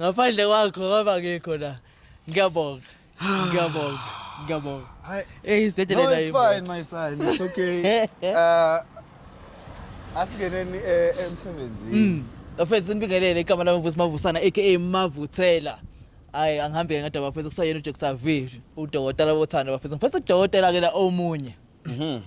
ngaphandle kwakho ngoba ngikho la ngiyabonga ngiyabonga ngiyabonga Hi. eyi No, sidedelela it's fine, my son. It's okay. Uh, asingeneni eh, emsebenzini. bafethu sinibingelele igama lami mvusi mavusana aka mavuthela hayi angihambe-ke ngadaba bafethu kusayena ujacksavi udokotela bothando bafethu ngifethu udokotela-ke la omunye Mhm.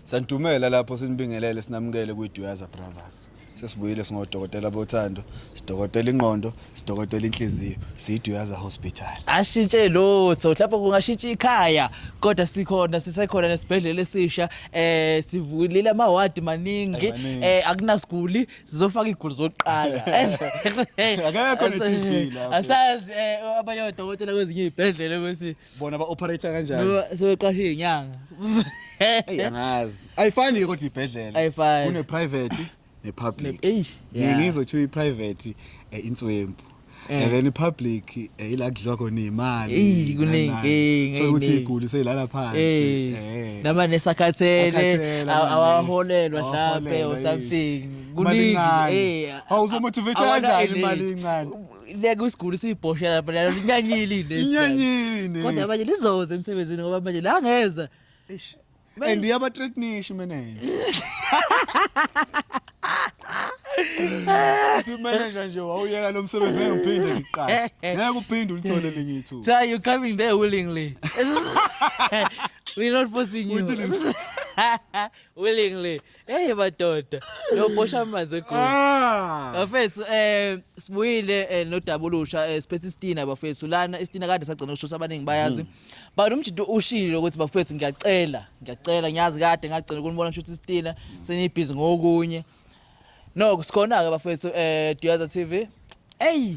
Santumela lapho sinibingelele sinamukele kwiDuyaza Brothers. Sesibuyile singodokotela bothando, sidokotela ingqondo, sidokotela inhliziyo, siyiDuyaza Hospital. ashintshe lutho mhlawumbe kungashintsha ikhaya kodwa sikhona sisekhona nesibhedlela esisha eh sivulile amawadi maningi Ay, maningi. eh akunasiguli sizofaka igulu zokuqala Akekho ne-TB lapho. asazi eh abayodokotela kwezinye izibhedlela ukuthi bona ba-operator kanjani sebeqashe inyanga angazi ayifani ke kodwa ibhedlela Ayifani. kune-private ne-public Eish, Ngi- yeah. ngizothiwa i-private um inswempu Eh. and then i-public um ila kudliwa khona Eish, iy'mali kuney'nkinga, Thola ukuthi ey'ningi. iguli seyilala phansi Eh, eh. nama nesakhathele Akhathele, aw- ama-nurse, awaholelwa mhlampe awaholelwa, or yes. something Imali kuningi incane. eh, Hawu, uzomotivate awana kanjani energy. imali incane? leke isiguli siyibhosha lapha lalo linyanyile ine inyanyile kodwa manje lizoze emsebenzini ngoba manje la ngeza eish and yaba threatenish manager Uthi manager nje wawuyeka lo msebenzi engiphinde ngiqashe. Ngeke uphinde ulithole linye ithuba. Cha you coming there willingly. We're not forcing you. willingly. Hey madoda, lobosha amanzi egoli. Ah! Bafethu eh sibuyile eh, nodaba olusha eh, siphethe isitina bafethu lana isitina kade sagcina ukushusa abaningi bayazi. Hmm. But umjito ushilo ukuthi bafethu ngiyacela, ngiyacela ngiyazi kade ngagcina ukunibona ngishuthi isitina senibhizi ngokunye. No, sikhona ke bafethu eh Duyaza TV. Ey,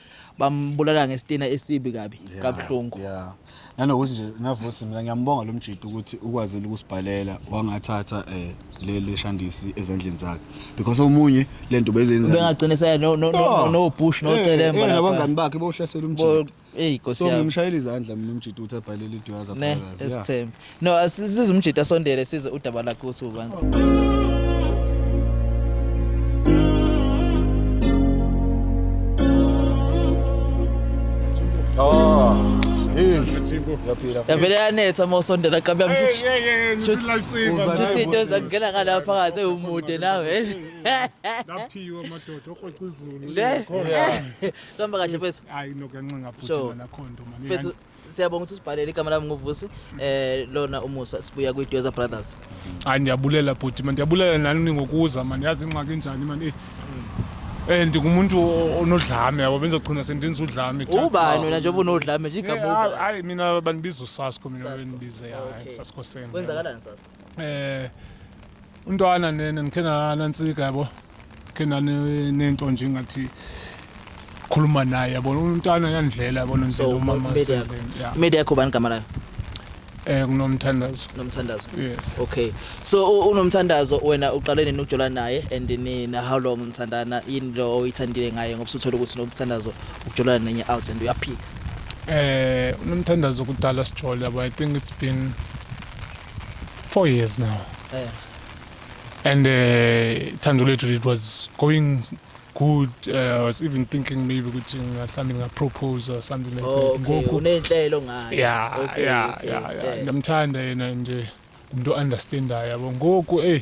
bambulala ngesitina esibi kabi kabuhlungu yeah nanokuthi nje navusi mina ngiyambonga lo mjidi ukuthi ukwazile ukusibhalela wangathatha eh leli shandisi ezandleni zakhe because omunye lento bezenza bengagcina saya no no no no push no celemba lapha abangani bakhe bohlasela umjidi hey nkosi yami so ngimshayela izandla mina umjidi uthi abhalele iduyaza phakathi esithembu No, size umjita sondele size udaba lakhe ukuthi ubani. Oh. Hey. Yavele yanetha uma usondela qaba yamshuthi. Yeah, yeah, yeah. Shuthi- Life saver. Uza- Shuthi Hayi, into boss. ezakungena ngala phakathi ewumude nawe. Laphiwe amadoda okrweca izulu. Le. Sihamba kahle mfethu. Hayi nokancenga Sure. bhuti nakhonto mani. Mfethu Siyabonga ukuthi usibhalele igama lami nguVusi eh lona umusa sibuya kwi Dozer Brothers. Hayi ndiyabulela bhuti man ndiyabulela nani ngokuza man yazi ingxaki njani man eh Eh ndingumuntu o- onodlame yabo benzogcina sendenza udlame just- Ubani wena njengoba unodlame nje Yeah, igama hayi- ubani? hayi mina bandibiza usasko mina Sasko. bendibize Okay. hayi saskoseni Kwenzakalani sasko? eh untwana nene ngikhe nanantsika yabo ngikhe nanento nje ngathi khuluma naye yabona umntana yandlela yabona nje umama media yakho bani igama layo Eh kunomthandazo. Nomthandazo. Yes. Okay. So unomthandazo wena uqale nini ukujola naye and nina how long nithandana yini lo oyithandile ngaye ngoba usuthola ukuthi nomthandazo ukujola nenye out and uyaphika. Eh unomthandazo kudala sijole but I think it's been Four years now. Yeah. And uh, thando lethu it was going good. Uh, I was even thinking maybe ukuthi ngahlambi ngapropose or something like Oh, that. okay. Unenhlelo ngayo. Yeah, Okay, yeah, okay, yeah, yeah. yeah. Ndamthanda yena nje umuntu understandayo yabo. Ngoku eh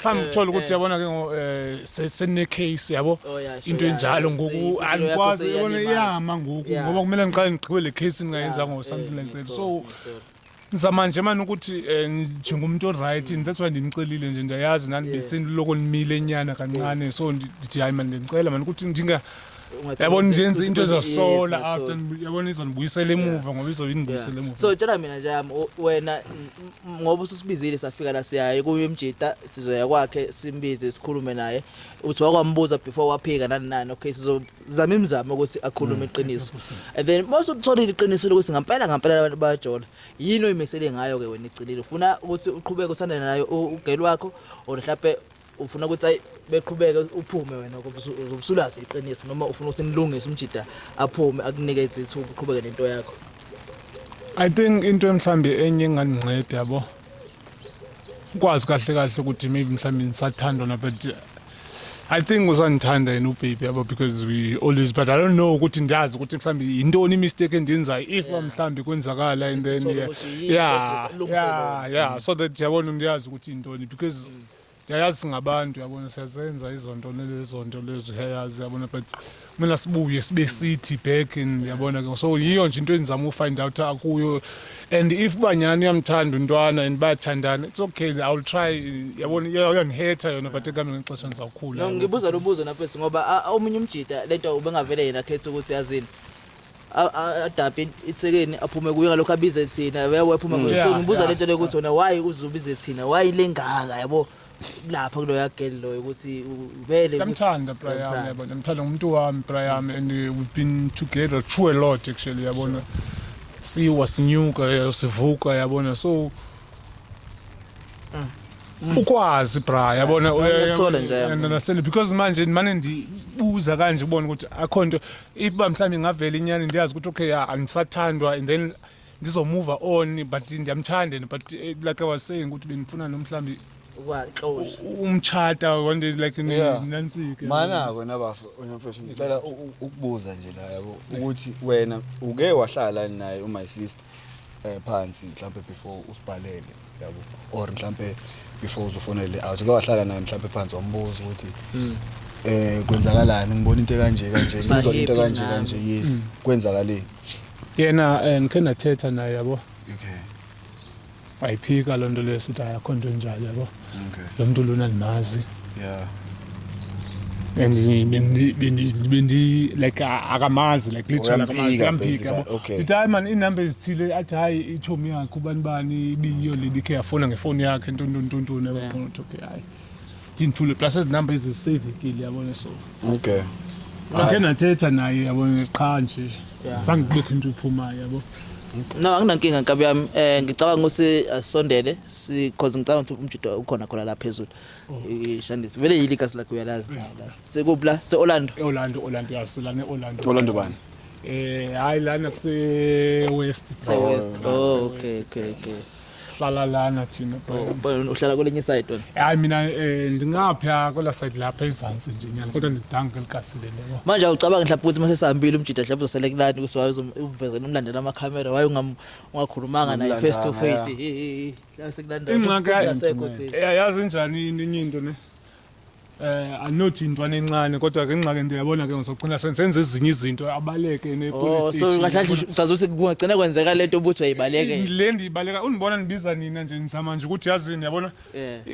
mhlawumbe uthole ukuthi yabona ke ngo eh, se- sene case yabo Oh, yeah, sure, into yeah, enjalo yeah. ngoku Seyimpilo yakho andikwazi seyiyalimala. yona iyama ngoku Yeah. ngoba kumele ngiqale ngigqibe le case ngingayenzanga or something like that so ngizama nje mani ukuthi eh, njengomuntu oright and that's why ndinicelile nje ndiyayazi nani Yeah. beseniloko nimile nyana kancane so ndi- ndithi hayi mani ndicela mani ukuthi ndinga yabona nje yenza into ezosola after yabona izonibuyisela emuva ngoba izobinibuyisela emuva so tshela mina nje yami wena ngoba ususibizile safika la siyaye kuye umjita sizoya kwakhe simbize sikhulume naye uthi wakwambuza before waphika nani nani okay sizozama imizamo ukuthi akhulume mm. iqiniso and then most uthola iqiniso lokuthi ngampela ngampela abantu bayajola yini oyimisele ngayo ke wena iqinile ufuna ukuthi uqhubeke usandane nayo ugel wakho or mhlawumbe ufuna ukuthi ayi beqhubeke uphume wena uzobusulazi iqiniso noma ufuna ukuthi nilungise umjida aphume akunike izithuba uqhubeke nento yakho i think into emhlambi enye engandinceda yabo ukwazi kahle kahle ukuthi maybe mhlambi nisathandwa na but I think usandithanda yena ubaby yabo because we always but I don't know ukuthi ndiyazi ukuthi mhlambi yintoni imistake endiyenzayo if mhlambi kwenzakala and then yeah yeah yeah, yeah. so that yabona ndiyazi ukuthi yintoni because mm. ndiyayazi singabantu yabona siyazenza izonto nelezonto lezo uyayazi yabona but kumele sibuye sibe sithi back and yabona ke so yiyo nje into endizama ufind out akuyo and if banyani uyamthanda untwana and bayathandana it's okay i will try yabona uyandihetha yona but ekuhambeni kwexesha ndizawukhula ngibuza lo buzo nafesi ngoba omunye umjita lento ubengavele yena khetha ukuthi yazini adabe ithekeni aphume kuyo ngalokho abize thina yabo aphume kuyo so ngibuza lento lokuthi wena why uzubize thina why lengaka yabo lapha kuloya girl loyo ukuthi vele ngamthanda bra yami yabona ngimthanda umuntu wami bra yami and we've been together through a lot actually yabona siwa sinyuka sivuka yabona so Mm. ukwazi bra yabona uyathola nje naseni because manje manje ndibuza kanje ubona ukuthi akho nto if uba mhlawumbi ingavela inyani ndiyazi ukuthi okay ah, andisathandwa and then ndizomova on but ndiyamthanda and but eh, like i was saying ukuthi bendifuna no mhlawumbi Ukwaxosha. u- umtshata one day like ni- Yeah. nansike manako nabafo wena mfethu ngicela u- u- ukubuza nje la yabo ukuthi wena uke wahlala naye u-my sister um phansi mhlawumbe before usibhalele yabo or mhlambe before uzofonele out ke wahlala naye mhlambe phansi wambuza ukuthi mm. eh kwenzakalani ngibona into kanje kanje ngizwa into kanje kanje yes mm. kwenzakaleni yena eh, ngikhe nathetha naye yabo okay wayiphika lonto leyo sithi ayakhonto njalo yabo okay lo muntu lona limazi yeah and bendi bendi bendi like akamazi like literally akamazi amphika yabo okay. the time and inumber izithile athi hayi ichomi yakhe ubani bani ibiyo okay. leli ke yafona ngefoni yakhe ntontontonton yabo yeah. okay hayi tinthule plus as number is savekile yabona so okay ngakhe nathetha naye yabona qha nje zange kubekho into iphumayo yabo no anginankinga nkabi yami um ngicabanga ukuthi asisondele because ngicabanga ukuthi umjida ukhona khona la phezulu Eh, Shandisi vele yili kasi lakho uyalazi la la. Sekupla se Orlando. E-Orlando, Orlando, yes, lana e-Orlando. Orlando bani? Eh, hayi lana kuse-West. Se West. Oh okay okay okay. Sihlala lana thina. Oh, bheka. uhlala kwelinye side wena. Hayi mina eh ndingapha kwela side lapha ezantsi nje nyana kodwa ndidanga kwelikasile leyo. Manje awucabanga mhlawumbe ukuthi uma sesihambile umjida mhlawumbe uzosele kulani ukuthi wayezokuvezela umlandela amakhamera waye ungam- ungakhulumanga naye Umlanda, face to face. haya. Eh, eh, eh. ingxaka yazi njani inye into ne eh anothi intwana encane kodwa ke ingxake into yabona ke ngizogcina senzenza ezinye izinto abaleke ne oh, police station so kahle ucaza ukuthi kungagcina kwenzeka lento ubuthi uyayibaleke le ndiyibaleka unibona nibiza nina nje nizama nje ukuthi yazini yabona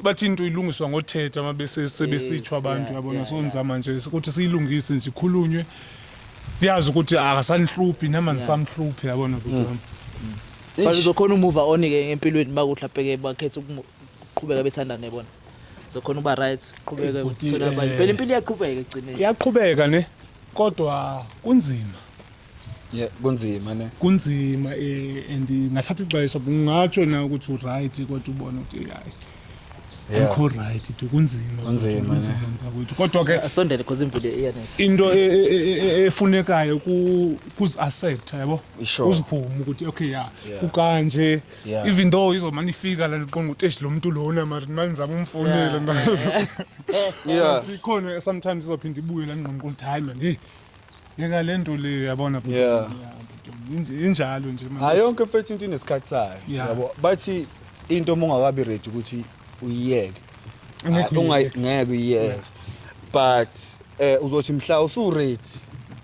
bathi into ilungiswa ngothetha uma bese sebesithwa abantu yabona so nizama nje ukuthi siyilungise nje ikhulunywe ndiyazi ukuthi akasanihluphi nama nisamhluphi yabona bhuti wami mm. But uzokhona umuva on ke empilweni makuhla bheke bakhetha ukuqhubeka bethandane bona. Uzokhona uba right, qhubeka uthola abanye. Eh, Phela impilo iyaqhubeka egcineni. Iyaqhubeka ne kodwa kunzima. Yeah, kunzima ne. Kunzima eh and ngathatha ixesha ngingatsho na ukuthi u right kodwa ubona ukuthi hayi. akho right it kunzima kunzima mntakwethu kodwa ke asondele because imvile iyanetha into e, e, e, efunekayo kuzi accept yabo uzivume ukuthi okay ya ukanje even though izomani ifika la liqonga ukuthi esh lo muntu lona mari manje ngizama umfonela manje yeah ikhona sometimes izophinda ibuye la ngqonqo ukuthi hayi man hey Yeka le nto leyo yabona bhuti. Yeah. Inj- Injalo nje manje. hayi yonke mfethu into inesikhathi sayo Yeah. yabo bathi into uma ungakabi ready ukuthi uyiyeke Ngeke Unga- uyiyeke. ngeke uyiyeke but eh uzothi mhla usuready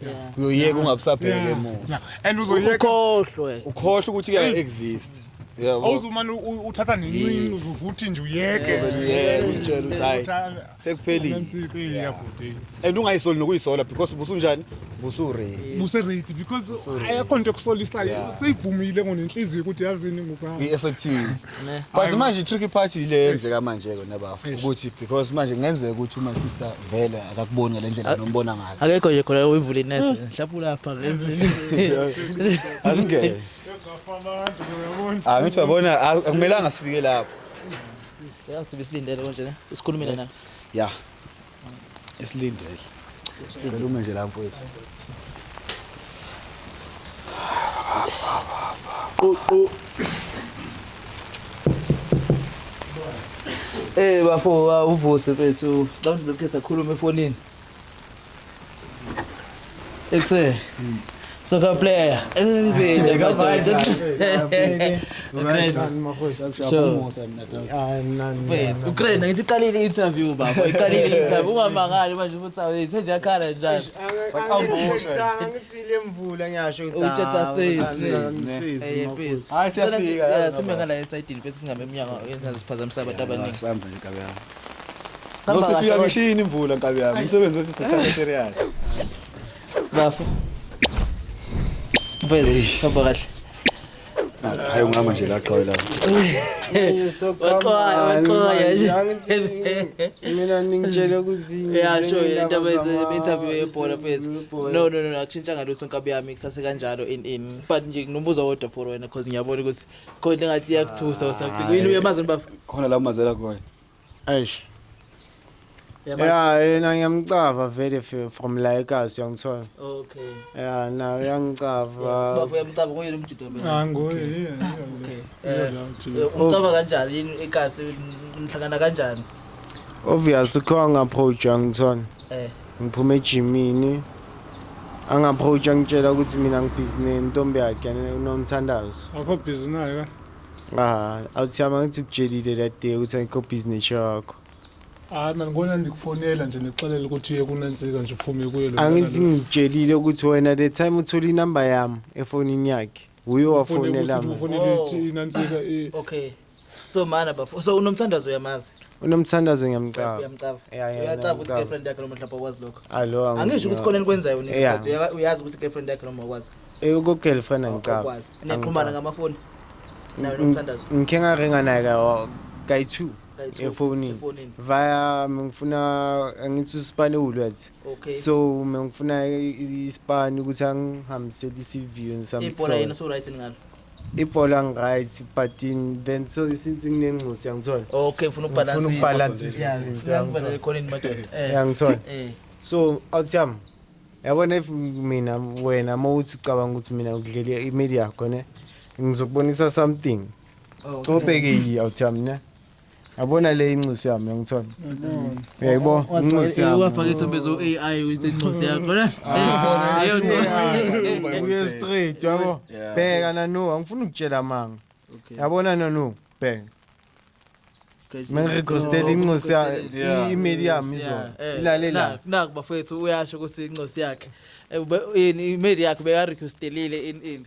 Yeah. uyoyeka ungabusabheke Yeah. emuva Yeah. And uzoyeka ukhohlwe ukhohle ukuthi Hey. kuya-exist yabo awuzumane u- uthatha nencinci Yes. uzovuthi nje uyeke Uzovele nje. uyeke, uzitshele ukuthi, Ukuthi, hhayi. ah, sekuphelile Nansi-ke ya bhuti. and ungayisoli nokuyisola because busunjani busurate Buserate because Buserate. ayakho nto ekusolisayo. Yeah. Seyivumile ngonenhliziyo ukuthi yazini ngokwami. i-SFT Ne. but manje i-tricky part yile endleka manje-ke nabafu Eish. ukuthi because manje kungenzeka ukuthi uma sister vele akakuboni ngale ndlela nombona ngayo Akekho nje khona uyivula inesi. Mhlawumbe ulapha. asingene Ngafamanga, uyabona. Ah, ngithi uyabona ah, akumelanga sifike lapho Yathi besilindele konje ne. Usikhulumile naye. Ya. Esilindele. Sicela ume nje la mfowethu. Qo Eh bafo uvuse mfethu. Cawuthi besikhe sakhuluma efonini. Ekse. Soccer player. Enzile kabaje. Ukraine ngithi iqalile interview baba. Iqalile interview ungamangali manje ukuthi awu seziyakhala njalo. Ngithile mvula ngiyasho ukuthi uthatha sisi. Eh please. Hayi siyafika. Sime ngala esayidini bese singabe emnyango yenza siphazamisa abantu abaningi. Sihamba inkabe yami. Hamba Nosifika kahle, ngisho yini imvula nkabi yami. Umsebenzi wethu sithanda serious. bafo mfezi hamba kahle Hayi ungama nje la qhawe lapho. Waxoya, waxoya nje. mina ningitshele kuzinye Yeah, sure, yeah, indaba interview yebhola mfethu. No, no, no, no, akushintshanga lutho nkabi yami kusase kanjalo in in. But nje nginombuzo wodwa for wena because ngiyabona ukuthi Kodwa ngathi yakuthusa or something. Wini uyamazini baba. khona la umazela khona Eish. Uyamazi? Yeah, yena ngiyamcava vele f- from la eKasi uyangithola. Okay. Yeah, na uyangicava. Baba uyamcaba ngoyena umjida wami. Ah ngoye yeah, yeah, Okay. yeah, Eh, yeah, uthi- eh, Umcaba kanjani yini ikasi nihlangana kanjani? Obvious ukho ngapproach uyangithola. Eh. Ngiphume ejimini angi-approach angitshela ukuthi mina ngibhizi nentombi yakhe unomthandazo akho bhizi naye ka ah awuthi yami angithi kutshelile that day ukuthi angikho bhizi netshe yakho hayi mani kona ndikufonela nje ndikuxelela ukuthi uye kunantsika nje uphume kuye lo angithi ngitshelile ukuthi wena the time uthole inamba yami efonini yakhe Uyo wafonela mina. Ufonela oh. inansika i. Okay. So mana bafo. So unomthandazo uyamazi. Unomthandazo ngiyamcaba. Uyamcaba. Uyacaba ukuthi girlfriend yakhe noma mhlawumbe akwazi lokho. Alo. Angisho ukuthi khona enikwenzayo nina. Uyazi ukuthi girlfriend yakhe noma akwazi. Eh uko girlfriend oh, angicaba. Akwazi. Nixhumana ngamafoni. Nayo unomthandazo. Ngikhe ngaringa naye ka kayi2. efonini via mengifuna angithi usipani ewulwathi okay. so mengifuna isipani ukuthi angihambisele i-cv and some ibhola yena so right ngalo ibhola ngiright but in then so since nginengcosi yangithola okay ngifuna ukubalance ngifuna ukubalance izinto yangithola ekhona ni madoda eh. yangithola eh. so out yam yabona if mina wena mawuthi ucabanga ukuthi mina ngidlele imali yakho ne ngizokubonisa something Cobheke yi awuthami ne. Yabona le inxusi yami ngithola. Yebo, inxusi yami. Wafaka isombe so AI ukuthi inxusi yakho. Leyo nto. Uye straight yabo. Bheka nanu, angifuni ukutshela manga. Yabona nanu, bheka. Mengigostela inxusi ya email yami izona. Ilale la. Naku bafethu uyasho ukuthi inxusi yakhe. Yini email yakhe beka requestelile in in.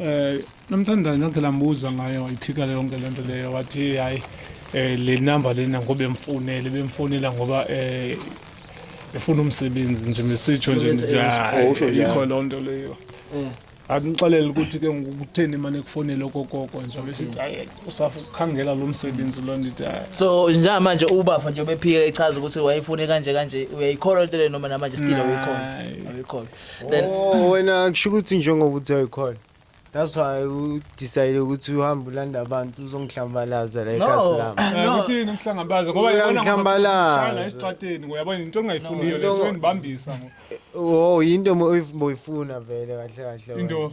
Eh nomthandane nonke lambuza ngayo iphika yonke lento leyo wathi hayi eh le number lena ngoba emfonele bemfonela ngoba eh efuna umsebenzi nje mesitsho nje nje ikho lonto leyo. Eh akunixelele ukuthi ke ngokutheni mane kufonele okokoko nje besithi hayi usafa ukukhangela lo msebenzi lo ndithi hayi so njengamanje ubafa nje bephike echaza ukuthi wayefune kanje kanje uyayikholwa into le noma namanje still awuyikholwa awuyikholwa then Oh wena kusho ukuthi njengoba uthi ayikhona. That's why u decide ukuthi uhamba ulanda abantu uzongihlambalaza la ekhasi lami. Eh, No. ukuthi yini ukuhlangabaza ngoba Uya yibona ngihlambalaza. ngishayela esitrateni ngoba yabona into engayifuniyo No. leso ngibambisa ngo- Oh yinto mo- oyifu- boyifuna vele kahle kahle. wena. into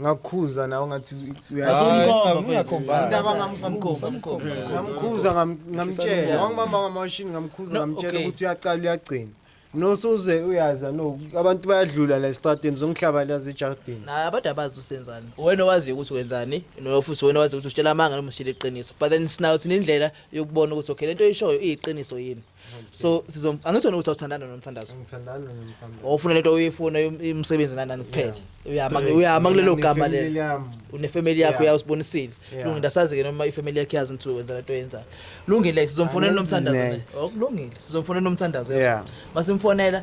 ngakhuza nawe ngathi uyayingamkhuza ngamtshela wangibamba ngamashini ngamkhuza ngamtshela ukuthi uyacala uyagcina nosuze uyaza no abantu bayadlula la estradini zongihlaba la zejardini hayi abantu abazi usenzani wena owazi ukuthi wenzani nofuthi wena owazi ukuthi usitshela amanga noma usitshela iqiniso but then sinayo thina indlela yokubona ukuthi okay lento oyishoyo iyiqiniso yini so sizom angithi wena uthi awuthandana nomthandazo ngithandana nomthandazo ofuna lento uyifuna umsebenzi nanani kuphela uyama uyama kulelo gama lelo unefamily yakho uyawusibonisile lungi ndasazi ke noma ifamily yakhe yazi ukuthi wenza lento yenzayo lungile sizomfonela nomthandazo okulungile oh, sizomfonela nomthandazo yazi masimfonela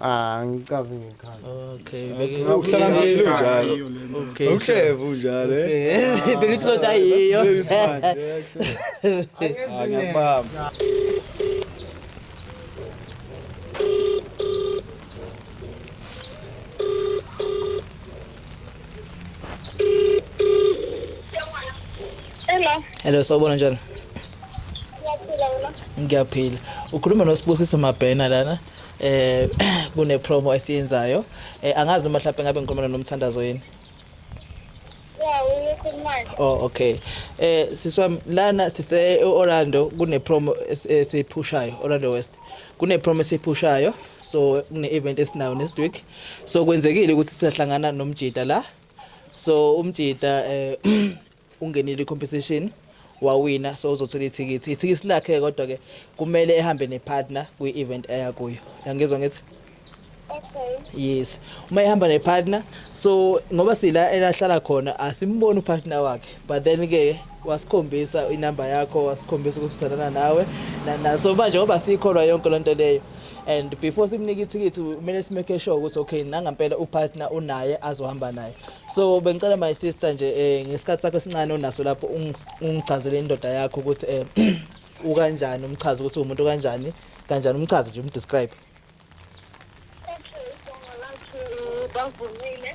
Ah ngicavi ngekhala. Okay. Uhlala ngelo njalo. Okay. Uhleva unjalo eh. Bengithi lo jayiyo. Very smart. Angenzi ngiyabamba. Hello. Hello sawubona njani? Ngiyaphila wena. Ngiyaphila. Ukhuluma noSibusiso Mabhena lana. Eh kune promo esiyenzayo. Eh angazi noma mhlawumbe ngabe ngikhuluma nomthandazo yini. Yeah, uyikhuluma. Oh okay. Eh siswa lana sise Orlando kune promo esiphushayo Orlando West. Kune promo esiphushayo so kune event esinayo next week. so kwenzekile ukuthi siyahlangana nomjita la so umjita eh ungenile compensation wawina so uzothola ithikithi ithikithi lakhe kodwa ke kumele ehambe nepartner kwi event eya kuyo yangizwa ngithi Okay. Yes. Uma ehamba ne partner so ngoba sila elahlala khona asimboni u partner wakhe but then ke wasikhombisa inamba yakho wasikhombisa ukuthi uthandana nawe na so manje ngoba sikholwa yonke lento leyo and before simnike ithikithi kumele simake sure ukuthi okay nangampela upartner unaye azohamba naye so bengicela my sister nje eh, ngesikhathi sakho esincane onaso lapho ungichazele indoda yakho ukuthi eh, ukanjani umchaza ukuthi umuntu kanjani kanjani umchaza nje umdescribe bavumile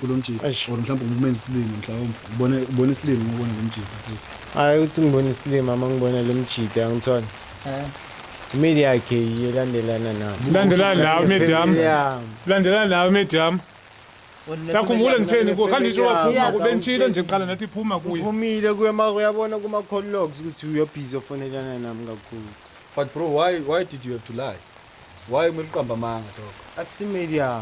kulo mjita Eish. or mhlawumbe ngumeni isilima mhlawumbe ubone ubone isilima uma ubona lo mjita futhi hayi ukuthi ngibona isilima uma ngibona lo mjita angithole imeli yakhe yiyo elandelana nami Landelana nawe imedi yami. Yeah. Landelana nawe imedi yami. Yakhumbula ngitheni kuwe khanje isho waphuma Yeah. kuwe bengitshilo nje kuqala nathi iphuma kuye. uphumile kuye ma uyabona kuma-call logs ukuthi uyobhizi ofonelana nami kakhulu But bro, why why did you have to lie? Why kumele uqamba amanga dog? Athi media.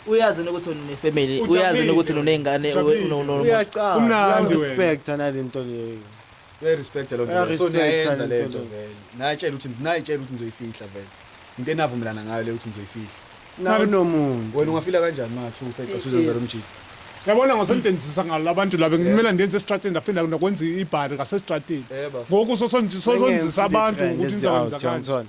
Uyazi ukuthi une family, uyazi ukuthi unezingane no no. Uyacanga. Umnandi wena. Respect ana lento leyo. Uya respect lo nto. So niyenza lento vele. Nayitshela ukuthi nayitshela ukuthi ngizoyifihla vele. Into enavumelana ngayo le ukuthi ngizoyifihla. Nawe nomuntu. Wena ungafila kanjani mathu usayicathuza nje lo mjidi? yabona ngosondenzisa ngalo labantu laba ngimela ndenze estrateni ndaphinda ndakwenza ibhari ngasestrateni ngoku sosondizisa abantu ukuthi nizakwenza kanjani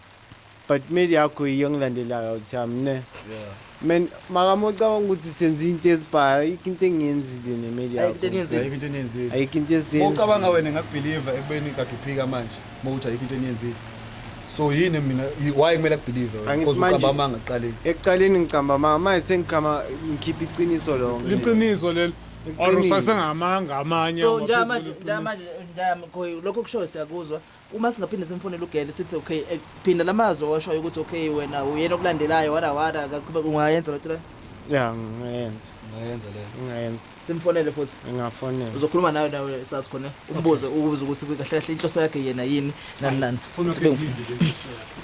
but mail yakho yiyo engilandelayo awuthi yami ne yeah. man makama ucabanga ukuthi senza into ezibhayo ayikho into engiyenzile nemail yakhoayikho into ezicabanga wena ngakubhiliva ekubeni kade uphika manje uma ukuthi ayikho into eniyenzile so yini mina why kumele akubhilive because ucamba amanga ekuqaleni ekuqaleni ngicamba amanga manje sengikhama ngikhipha iqiniso lonke liqiniso leli or usasengamanga amanye so njamanje njamanje njamanje lokho kushoyo siyakuzwa Uma singaphinde simfonele uGele sithi okay eh, phinda lamazwi owashoyo ukuthi okay wena uyena okulandelayo wada wada akaqhubeka ungayenza lento le ya ngingayenza ungayenza le ngingayenza simfonele futhi ngingafonela uzokhuluma nayo nawe sasi khona umbuze ukubuza ukuthi kahle kahle inhloso yakhe yena yini nani nani funa Sibe- ukuphendile le nkosi yakho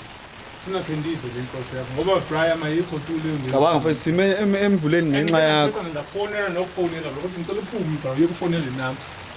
funa ukuphendile le nkosi yakho ngoba Brian ayikho tu leyo nto. cabanga mfethu sime em- emvuleni ngenxa yakho Ngicela ngifonela nokufonela lokho ngicela uphume bra uyokufonela inamba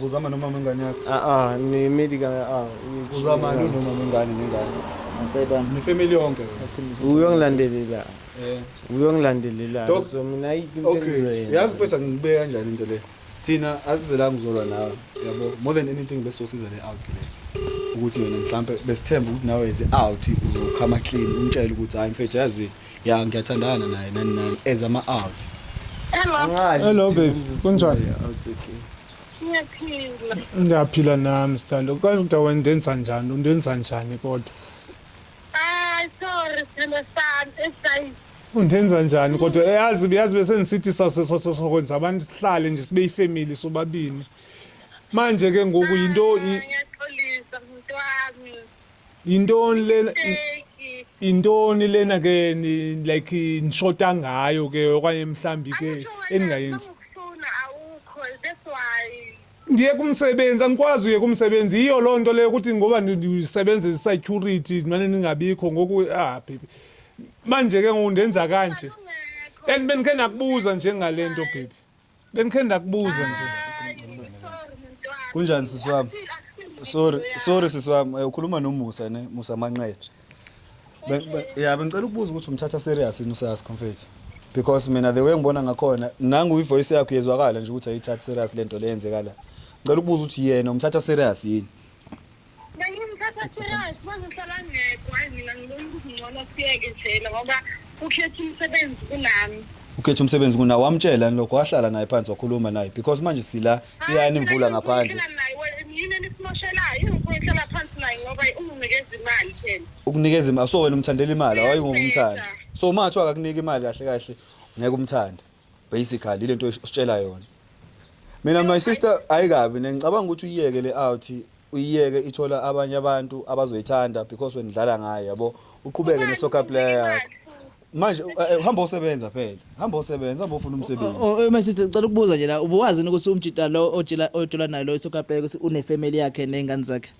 Uzama noma mengane yakho? Ah ah, ni medical ah. Uzama yini noma mengane nengane? Ngisayibani? Ni family yonke. Uyongilandelela. Eh. Uyongilandelela. So mina into engizoyenza. Okay. Yazi mfethu ngibeka kanjani into le? Thina asizelanga uzolwa nawe. Yabo, more than anything besosiza le out le. ukuthi yona mhlampe besithemba ukuthi nawe ze out uzokhama clean umtshele ukuthi hayi mfethu yazi ya ngiyathandana naye nani nani as ama out Hello. Hello babe, kunjani? Ngiyaphila. Ngiyaphila nami sithando. Kodwa ukuthi wendenza njani? Undenza njani kodwa? Ay sorry sithando sami esayi. Undenza njani kodwa? Eh, yazi yazi bese ngisithi sasokwenza abantu sihlale nje sibe ifamily sobabini. Manje ke ngoku yinto ah, ngiyaxolisa mntwami. Yintoni lena Teki. yintoni lena ke ni- like nishota ngayo ke okanye mhlambi ke Angisho wena, eningayenzi? noma ukufuna awukho that's why Ndiye kumsebenzi angikwazi uye kumsebenzi yiyo loo nto leyo ukuthi ngoba ndi- ndisebenza i-security mane ningabikho ngoku ah baby. Manje ke ngoku ndenza kanje. Ungekho. And bendikhe nakubuza nje ngale nto baby. Bengikhe ndakubuza nje. Kunjani sisi wami? Sorry, sorry sisi wami, eh, ukhuluma noMusa ne, Musa Manqele. Be- be- Yeah, bengicela ukubuza ukuthi umthatha serious yini usasi mfethu. Because mina the way ngibona ngakhona, nangu ivoice yakho yezwakala nje ukuthi ayithathi serious lento leyenzeka la. Ngicela ukubuza ukuthi yena umthatha serious yini? Bengimthatha serious manje uhlala ngedwa hayi mina ngibona ukuthi ngcono siyeke njena ngoba ukhetha umsebenzi kunami ukhetha umsebenzi kuna wamtshela yini lokho wahlala naye phansi wakhuluma naye because manje sila iyani imvula ngaphandle yini enisimoshelayo ingikho ihlala phansi naye ngoba unginikeza imali phela ukunikeza imali so wena umthandela imali awayingomthanda so uma kuthiwa akakunika imali kahle kahle ngeke umthande basically lento ositshela yona mina my sister ayikabi nengicabanga ukuthi uyiyeke le out uyiyeke ithola abanye abantu abazoyithanda because wenidlala ngayo yabo uqhubeke ne soccer player yakho manje eh, eh, hamba osebenza phela hamba osebenza hamba ufuna umsebenzi Oh, oh, my sister ngicela ukubuza nje la ubuwazi ukuthi umjita lo otshela otshela naye lo isokapeke ukuthi unefamily yakhe nezingane zakhe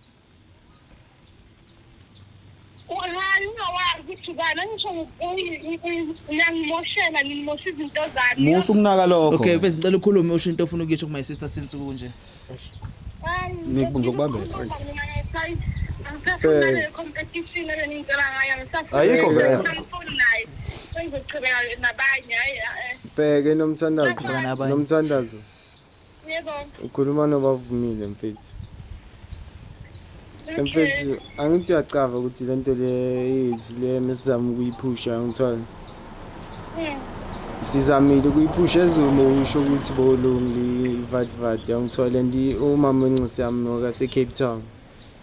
hayi ungawazi ukuthi ubani angisho uyangimoshela ngimosha izinto zami musa ukunaka lokho okay mfethu ngicela ukhulume usho into ofuna ukuyisho kuma sister since kunje ngizokubambela eh. ayikho vele bheke nomthandazo nomthandazo Yebo. Ukhuluma nobavumile mfethu. Mfethu angithi uyacava ukuthi le nto le yethu le mesizama ukuyiphusha ngithola. Hmm. Sizamile ukuyiphusha ezomo usho ukuthi bolungi vadvad yangithola ndi umama wenxisi yami noka se Cape Town.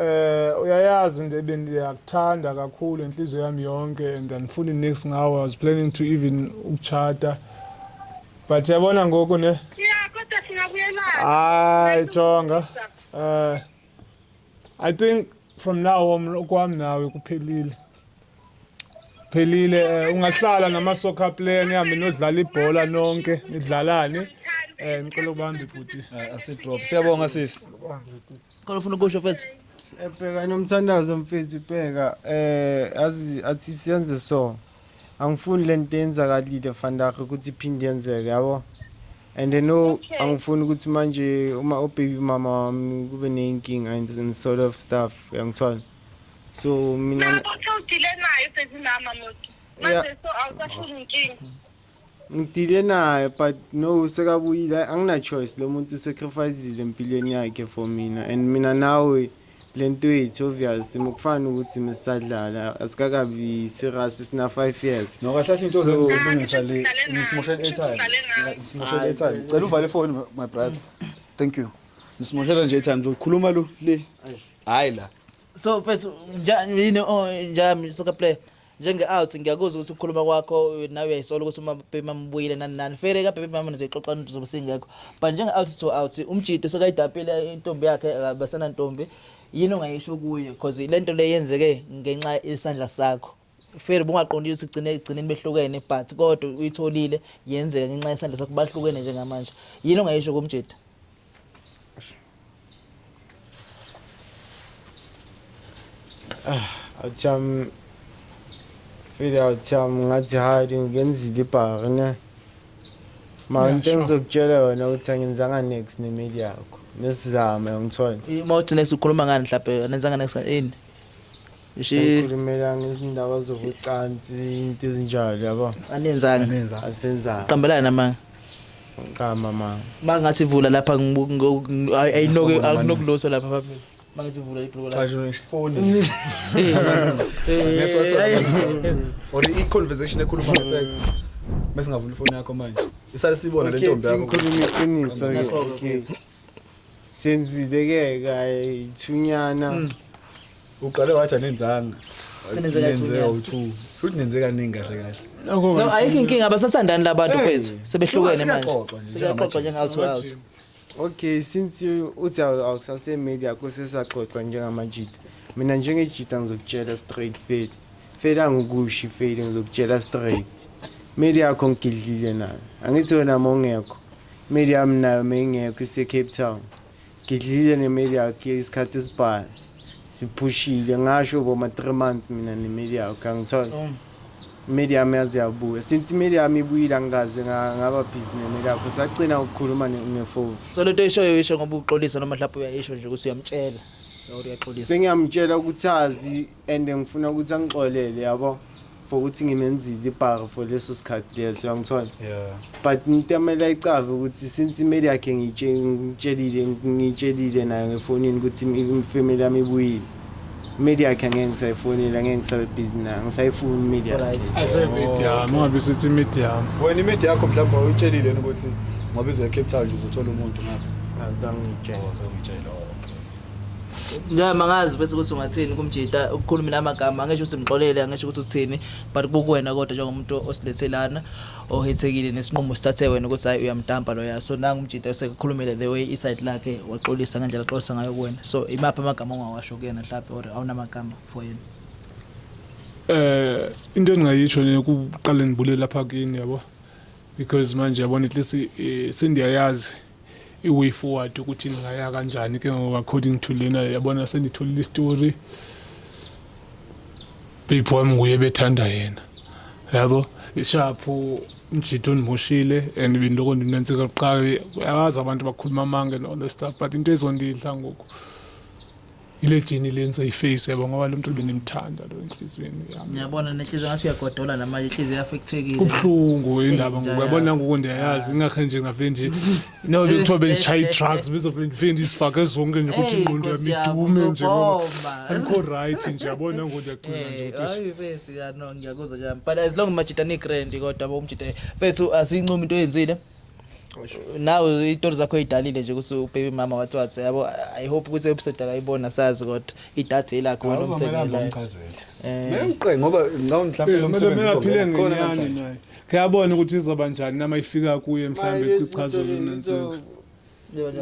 Eh uyayazi into ebendiyakuthanda kakhulu inhliziyo yami yonke and andifuni nix ngawe I was planning to even ukuchata but yabona ngoku ne Yeah kodwa singabuyelana. hayi jonga eh I think from now on kwami nawe kuphelile phelile eh, ungahlala nama soccer player nihambe nodlala ibhola nonke nidlalane eh ngicela ubambe bhuti eh, asi drop siyabonga sisi khona ufuna ukusho mfethu ebheka eh, nomthandazo mfethu ibheka eh azi athi siyenze so angifuni lento yenzakalile fandaga ukuthi iphinde yenzeke yabo and i know angifuni ukuthi manje uma ubaby mama wami kube neyinkinga and sort of stuff yangithola so mina ngidile naye sezinama moti manje so awusashuni inkinga ngidile naye but no sekabuyile angina-choice lo muntu usacrificile empilweni yakhe for mina and mina nawe le nto yethu obvious mukufana ukuthi mesisadlala asikakabi serious sina 5 years no kahle kahle into zokulungisa le nisimoshela airtime nisimoshela airtime cela uvale ifoni my brother thank you nisimoshela nje airtime zokhuluma lo le hayi la so mfethu nja- yini oh, njami soccer player njenge-out ngiyakuzwa ukuthi ukukhuluma kwakho nawe uyayisola ukuthi umabebi mamubuyile nani nani fere kabebi mama nizoyixoxa into zobe singekho but njenge-out to out umjito sekayidampile intombi yakhe akabasenantombi yini ongayisho kuye because le nto le yenzeke ngenxa isandla sakho Fair bungaqondile ukuthi gcine egcineni behlukene but kodwa uyitholile yenzeka ngenxa yesandla sakho bahlukene njengamanje. Yini ongayisho kumjita? Athi um feel athi um ngathi hide ngenzile ibhari ne. Ma into engizokutshela yona ukuthi angenzanga next nemeli yakho. Nesizame ngithola. Uma uthi nesukhuluma ngani mhlawumbe anenzanga next ini? Sikhulumela ngezindaba zokucansi into ezinjalo yabo. Anenzanga. Asenzanga. Qambelana namanga. Qamba manga. Mangathi vula lapha ayinoke akunokuloso lapha phambili. Mangathi vula ibhuku lakho. Cha nje phone. Ngeke siwathola. Or i conversation ekhuluma nge sex. Bese ngavula ifoni yakho manje. Isale sibona le ntombi yakho. Ngikhuluma iqiniso ke. senzile ke kayithunyana mm. uqale wathi anenzanga senze u2 futhi nenze kaningi kahle kahle no ayikho inkinga abasathandani labantu kwethu sebehlukene manje siyaxoxa njengathi wathi okay since uthi awukusase media kusesaxoxa njengamajita mina njengejita ngizokutshela straight fail fail angikushi fail ngizokutshela straight meli yakho ngigidlile nayo angithi wena mongekho Miriam nayo meyingekho ise Cape Town. Ngidlile ne Miriam isikhathi esibhala. Siphushile ngasho boma 3 months mina ne Miriam kangithola. Oh. Miriam yazi yabuya. Since Miriam ibuyile angikaze ngaba busy ne Miriam because agcina ukukhuluma ne phone. So lento ishoyo isho ngoba uxolisa noma mhlawumbe uyayisho nje ukuthi uyamtshela. Uyaqolisa. Sengiyamtshela ukuthi azi and ngifuna ukuthi angixolele yabo for ukuthi ngimenzile ibhara for leso sikhathi leso yangithola yeah. but ngitamela icave ukuthi since imeli yakhe ngitshelile ngitshelile nayo ngefonini ukuthi imfamily yami ibuyile imeli yakhe angeke ngisayifonela angeke ngisabe busy nayo ngisayifuni imeli yakheyami ungabe sithi imedi yami wena imedi yakho mhlawumbe uyitshelile ukuthi ngoba izoya cape town nje uzothola umuntu ngapha azangitshela azangitshela noma ngazi futhi ukuthi ungathini kumjita ukukhuluma namagama angisho ukuthi mxolele angisho ukuthi uthini but kukuwena kodwa njengomuntu osilethelana ohethekile nesinqumo sithathe wena ukuthi hayi uyamtampa loya so nangu umjita usekukhulumile the way iside lakhe waxolisa ngendlela axolisa ngayo kuwena so imaphi amagama ongawasho kuyena mhlawumbe or awunamagama for yena eh into engingayisho nje kuqale ngibulele lapha kini yabo because manje yabona at least eh, sendiyayazi i-way forward ukuthi ningaya kanjani ke ngoku according to lena yabona senditholile istory bebhi wami nguye bethanda yena yabo ishaphu umjitha ondimoshile and bendiloko ndinantsika kuqala akazi abantu bakhuluma amanga and all the stuff but into ezondidla ngoku ile jeni lenza iface yabo ngoba lo mntu bendimthanda lo enhliziyweni yami ngiyabona nenhliziyo ngathi uyagodola namanje inhliziyo yafekthekile kubuhlungu indaba ngoku yabona ngoku ndiyayazi ah. ingakhe nje ngave nje no bekuthiwa bendishaye i-drugs bezovele ndife ndizifake zonke nje ukuthi ingqondo yami idume nje ngoba andikho rayithi nje yabona ngoku ndiyacinga nje ukuthi ngiyakuzwa nje but as long majita ni-grand kodwa bomjita fethu asiyincumi into oyenzile nawe itori zakho idalile nje ukuthi ubaby mama wathi wathi yabo i hope ukuthi episode akayibona sazi kodwa idatha elakho wena umsebenzi eh bengiqe ngoba ngicabanga mhlawumbe eh, umsebenzi uzophile khona namhlanje kuyabona ukuthi izoba njani nama ifika kuye mhlawumbe sichazo lensuku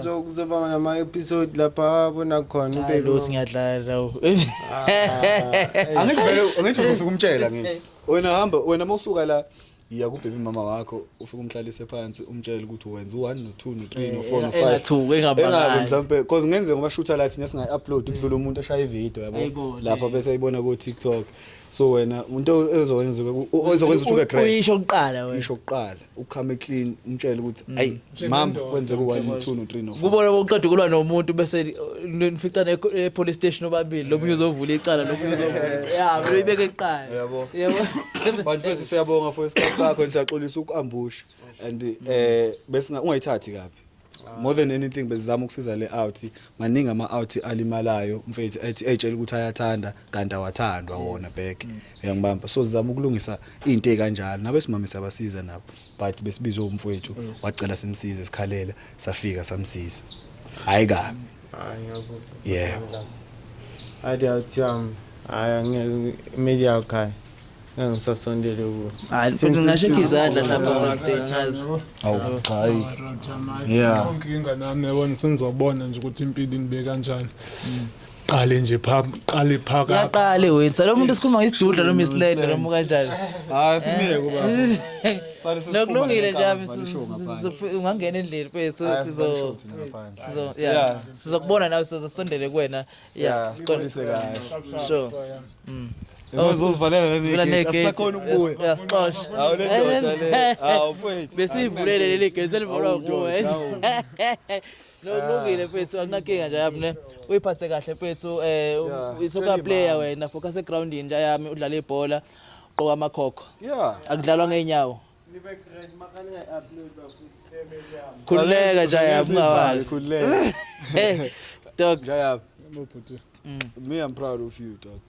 so kuzoba nama episode lapha bona khona ube lo singiyadlala lawo ah, angisho vele angisho ufika umtshela ngithi wena hamba wena mawusuka la yiya kubhebhi mama wakho ufike umhlalise phansi umtshele ukuthi wenza u-1 no-2 no-3 Eh, no-4 enga- engathuki, engabangi. no-5 mhlawumpe because kungenzeka uma shutha la thina singayi-upload kudlula umuntu ashaya ividiyo yabo Ayibone. lapho bese ayibona ko-tiktok so wena into ezokwenza ukuthi ube great uyisho kuqala wena isho kuqala ukhame clean umtshele ukuthi ayi Mam kwenzeka u1 no2 no3 no4. Kubona bokuqeda kulwa nomuntu bese nificana epolice station obabili lomunye uzovula icala lomunye uzovula. Yeah, vele ibeke iqala. Yabo. Yabo. Bantu bethu siyabonga for isikhathi sakho ngisaxolisa ukuambusha and eh besinga ungayithathi kabi. More than anything bezizama ukusiza le out maningi ama out alimalayo mfethu ethi etshela ukuthi ayathanda kanti awathandwa wona back mm. uyangibamba so sizama ukulungisa into ekanjalo nabe simame sabasiza nabo but besibizwe umfowethu wacela simsize sikhalela safika samsiza hayi kabi hayi ngiyakuzwa yeah ade awuthi um hayi ngeke media ukhaya ngeke ngisasondele kuwo hayi futhi ngashekha izandla lapha something ngazi awu cha hayi yeah inkinga nami yabona sengizobona nje ukuthi impilo inibeka kanjani mm. qale nje pha qale phaka yaqale wethu lo muntu sikhuluma ngesidudla lo Miss Land lo muka kanjani hayi simiyeke uba sale sisikhuluma nokulungile nje abi ungangena endlini mfethu sizo sizo yeah sizokubona nawe sizosondele kuwena yeah siqondise kahle sure mm Uzozivalela oh, nani gate asakhona ukubuya. Uyasixosha. Hawu le ndoda le. Hawu mfethu. Besivulele leli gate selivulwa nguwe. Kulungile mfethu akunakinga nje yami ne. Uyiphathe kahle mfethu eh Yeah, u- soccer tell him, player ah. wena focus egroundini nje yami udlala ibhola qoka amakhokho. Yeah. Akudlalwa ngeenyawo. Nibe grand makani upload bafuthi family yami. Khululeka nje yami ungawali. Khululeka. Eh dog. Jayab. Me, I'm proud of you, dog.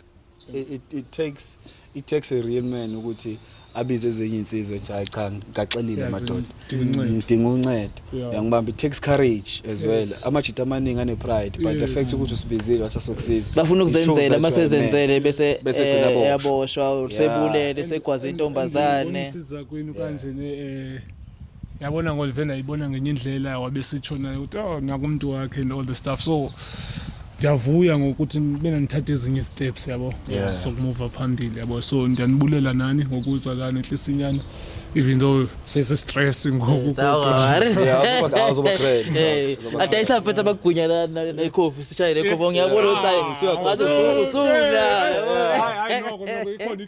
It, it, it takes it takes a real man ukuthi abize ezinye insizwe ethi hayi cha ngaxelile Yes, madoda ngidinga uncedo. ngidinga uncedo Yeah. yangibamba it takes courage as well amajita amaningi ane pride but the Yes. fact ukuthi usibizile wathi asokusiza bafuna it shows that ukuzenzela you uma are a man. sezenzele bese Bese eh, gcina boshwa. eyaboshwa or Yeah. sebulele segwaze intombazane Unesiza kwenu kanje ne eh yabona ngolive ndayibona ngenye indlela wabesitsho naye ukuthi oh nakumntu wakhe and all the stuff so ndiyavuya ngokuthi bena nithathe ezinye isteps yabo Yeah. sokumuva phambili yabo so ndiyanibulela nani ngokuza lana enhlisinyana even though sesistress ngoku kodwa. adayisa mfethu abagunya la- na- nekhofi sishaye nekhofi ngiyabona ukuthi hayi ngathi usu- usuya yabo. Hayi, hayi, noko, noko, ikhona i-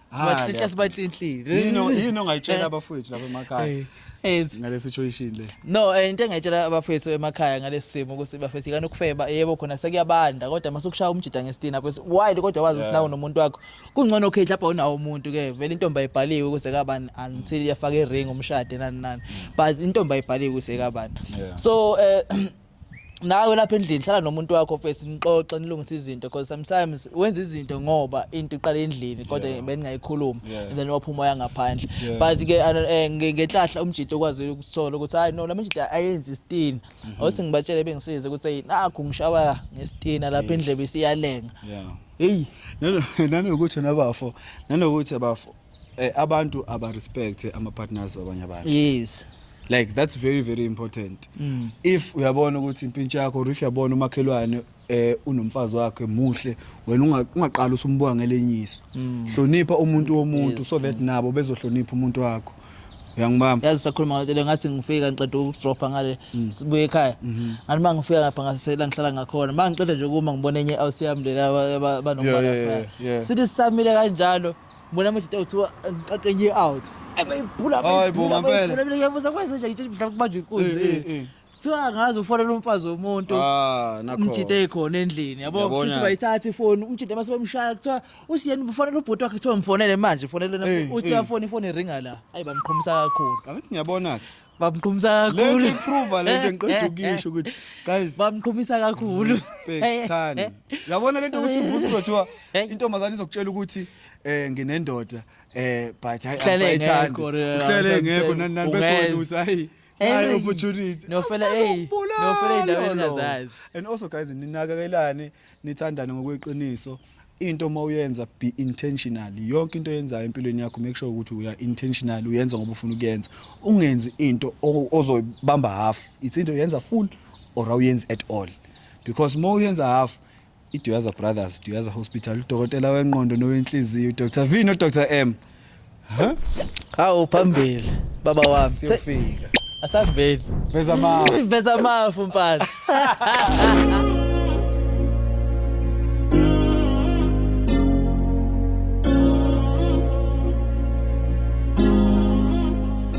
Sibahlehla sibahlehla. Yino yino ngayitshela abafowethu lapha emakhaya. Yes. Ngale situation le. No, eh, into engayitshela abafowethu emakhaya ngalesi simo ukuthi bafethu ikani ukufeba yebo khona sekuyabanda kodwa masukushaya umjida ngestina lapho why kodwa wazi ukuthi nawo nomuntu wakho. Kungcono okay lapha unawo umuntu ke vele intombi ayibhaliwe ukuze kabani until yafaka iring umshade nani nani. But intombi ayibhaliwe ukuze kabani. So eh nawe lapha endlini hlala nomuntu wakho face nixoxe nilungise izinto because sometimes wenza izinto ngoba into iqala endlini kodwa yeah. beningayikhuluma yeah. and then waphuma yangaphandle yeah. but ke eh, ngenhlahla umjito ukwazi ukuthola ukuthi hayi no lamjito ayenzi istina mm -hmm. othi ngibatshele bengisize ukuthi nakho ngishawa ngestina lapha endlebe isiyalenga yeah hey nanokuthi nabafo nanokuthi abafo Eh, abantu aba respect ama partners wabanye abantu yes like that's very very important mm. if uyabona ukuthi impintsha yakho or if uyabona umakhelwane eh unomfazi wakhe muhle wena ungaqala usumbuka ngelenyiso mm. hlonipha umuntu womuntu yes. so that mm. nabo bezohlonipha umuntu wakho uyangibamba yazi sakhuluma ngathi ngathi ngifika ngiqeda ukudropha ngale mm. sibuye ekhaya mhm. ngathi uma ngifika ngapha ngasela ngihlala ngakhona uma ngiqeda nje kuma ngibona enye house yami le banomfana sithi sisamile kanjalo Mona manje uthiwa ngiqaqe nje out. Ebeyiphula Hayi bo, ngampela. Mina ngiyabuza kwenze nje ngitshela mhlawumbe kubanjwe inkunzi. Eh, eh, eh. Kuthiwa angazi ufonela umfazi womuntu. Ah, nakho. umjita ekhona endlini yabo Yabona. futhi bayithatha ifoni umjita mase bemshaya kuthiwa usiyeni ufonela ubhuti wakhe kuthiwa ngifonele manje fonele Eh, uthi eh. uyafona ifoni iringa la ayi bamqhomisa kakhulu Angithi ngiyabona-ke. bamqhumisa kakhulu lento iprove lento engiqeda ukisho ukuthi guys bamqhumisa kakhulu respectani yabona lento ukuthi uvusa uzothiwa intombazane izokutshela ukuthi eh nginendoda eh but hayi ayithandi uhlele ngekho nani nani bese wena uthi hayi hayi opportunity nofela hey nofela indaba engazazi and also guys ninakakelane nithandane ngokweqiniso into uma uyenza be intentional yonke into oyenzayo empilweni yakho make sure ukuthi uya intentional uyenza ngoba ufuna ukuyenza ungenzi into ozoyibamba half it's into yenza full or awuyenzi at all because uma uyenza half iDuyaza Brothers Duyaza Hospital udokotela wenqondo nowenhliziyo uDr V noDr M Hawu phambili baba wami. Siyofika. Asambeni. Veza mafu. Veza mafu mfana.